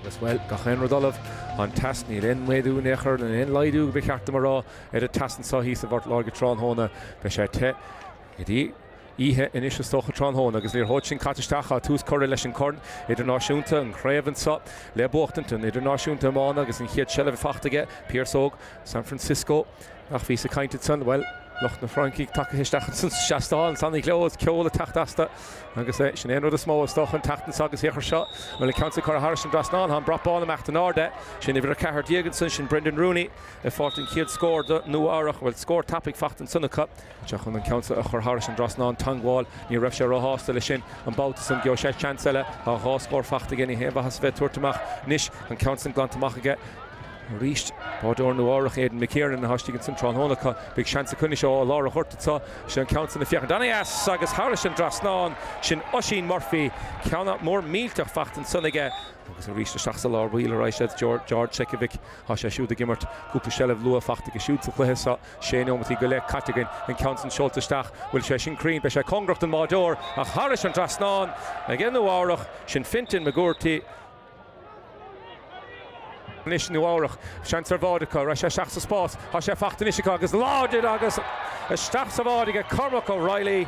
Agus, bhuel, gach aon rud ullamh, an teas, níl aon mhéadú in aon chor níl aon laghdú ba cheart dom a rá ar an teas anseo thíos i bPort Láirge tráthnóna. Beidh sé te go dtí oíche anois is dócha, tráthnóna, agus an liathróid sin caite isteach, tá tús curtha leis an Corn Idirnáisiúnta, an chraobh anseo le buachtaint, an Idirnáisiúnta Iomána agus an chéad seilbh faighte aige, Pearse Óg San Francisco. Ach bhíos ag caint ansan, bhuel, lucht na Fraince tagtha isteach ansan sa seastán san, tá gleo agus ceol ag teacht astu agus sin é an rud is mó, is dócha, an tseachtain seo agus féach air seo, bhuel, an ceann seo curtha thairis an dtrasnán, tá an brat bán ag imeacht in airde, sin uimhir a ceathair déag ansan, sin Brendan Rooney ag fáilt an chéad scór do Nua Eabhrac, bhuel, scór tapaidh faighte ansan acu. Seo chun an ceann seo a chur thairis an dtrasnán teangmháil. Ní raibh sé ró-shásta le sin. An babhta san gheobhaidh sé seans eile. Tá dhá scór faighte aige, ní haon mhaitheas a bheith ag tabhairt amach anois. An ceann san glanta amach aige arís. Báideoir Nua Eabhrac Aidan McKiernan atá istigh ansin tráthnóna acu. Beidh seans acu anois ó lár an ghoirt anseo. Sé an ceann san ag féachaint ana-dheas agus thairis an dtrasnán. Sin Oisín Murphy. Ceann mór millteach faighte ansan aige. Agus arís isteach sa lár baill a raghaidh sé, George Secovic. Tá sé siúd ag imirt. Cúpla seilbh luath faighte aige siúd sa chluiche seo. Sé nóimeataí go leith caite againn, an ceann san seolta isteach, bhfuil sé sin cruinn, beidh sé cóngarach don mbáideoir ach thairis an dtrasnán aige Nua Eabhrac, sin Fintan McGourty. Anois Nua Eabhrac, seans ar bháide acu, raghaidh sé isteach sa spás, tá sé faighte anois acu agus láidir agus isteach sa bháide aige Cormac O'Reilly,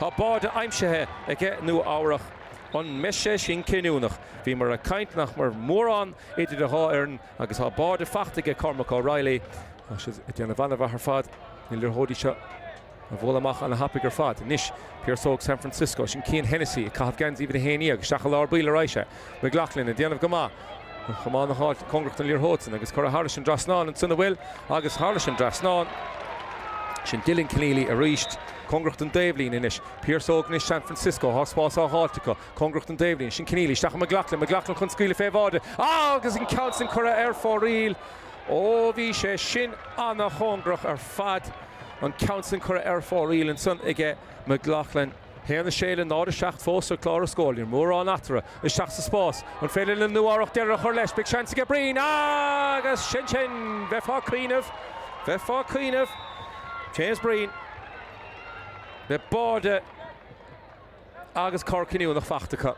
tá báide aimsithe aige Nua Eabhrac. An mbeidh sé sin cinniúnach? Bhíomar ag caint nach mbeadh mórán idir an dhá fhoireann, Agus tá báide faighte aige Cormac O'Reilly. Tá siad ag déanamh an-mhaith ar fad na liathróidí seo a bhualadh amach an-thapaidh ar fad. Anois Pearse Óg San Francisco, sin Cian Hennessy ag caitheamh geansaí uimhir a haon déag isteach i lár baill a raghaidh sé. McLaughlin ag déanamh go maith. Chomh maith le háit cóngarach don liathróid san agus curtha thairis an dtrasnán ansin an bhfuil agus thairis an dtrasnán. Sin Dylan Kenneally arís. Cóngarach don dtaobhlíne anois. Pearse Óg anois San Francisco, tá spás á dh'fháilt acu. Cóngarach don dtaobhlíne, sin Kenneally, isteach i McLaughlin, McLaughlin chun scaoileadh fé bháide agus an ceann sin curtha ar fóraoil. Ó bhí sé sin ana-chóngarach ar fad, an ceann sin curtha ar fóraoil ansan aige McLaughlin. haon a sé le náid a seacht fós ar chlár an scóir. Níl mórán eatarthu. Isteach sa spás. An féidir le Nua Eabhrac deireadh a chur leis? Beidh seans aige Breen, agus sin sin! Bheifeá ag cuimhneamh, bheifeá ag cuimhneamh. James Breen le báide. Agus cor cinniúnach faighte acu,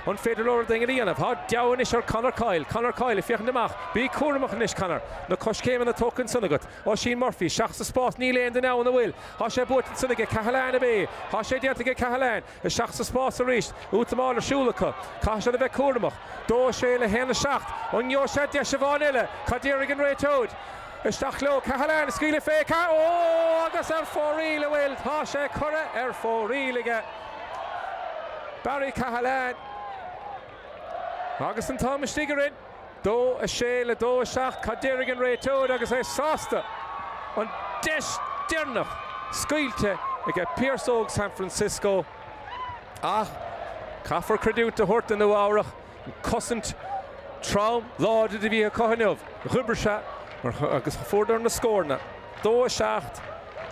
an féidir leo rud éigin a dhéanamh? Tá deabhadh anois ar Conor Coyle. Conor Coyle ag féachaint amach. Bí cúramach anois, Conor. Na coiscéimeanna tógtha ansan agat. Oisín Murphy isteach sa spás. Níl aon duine ann an bhfuil. Tá sé buailte ansan aige. Cahalane ab ea. Tá sé déanta aige Cahalane. Isteach sa spás arís. Útamáil ar siúl acu. Caithfidh siad a bheith cúramach. Dó a sé le haon a seacht. An ngeobhaidh sé deis amháin eile? Cad déarfaidh an réiteoir? Isteach leo, Cahalane, scaoileadh féig, oh agus ar fóraoil an bhfuil, tá sé curtha ar fóraoil aige, Barry Cahalane agus an t-am istigh orainn, dó a sé le dó a seacht, cad déarfaidh an réiteoir agus é sásta, an deis deireanach scaoilte aige Pearse Óg San Francisco ach caithfear creidiúint a thabhairt do Nua Eabhrach, Cosaint trom, láidir a bhí acu inniu. D'oibrigh sé agus fuaireadar na scóranna, 2, 7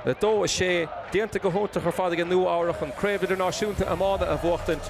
le 2, 6, déanta go hiontach ar fad aige Nua-Eabhrach chun Craobh Idirnáisiúnta Iomána a bhuachtaint.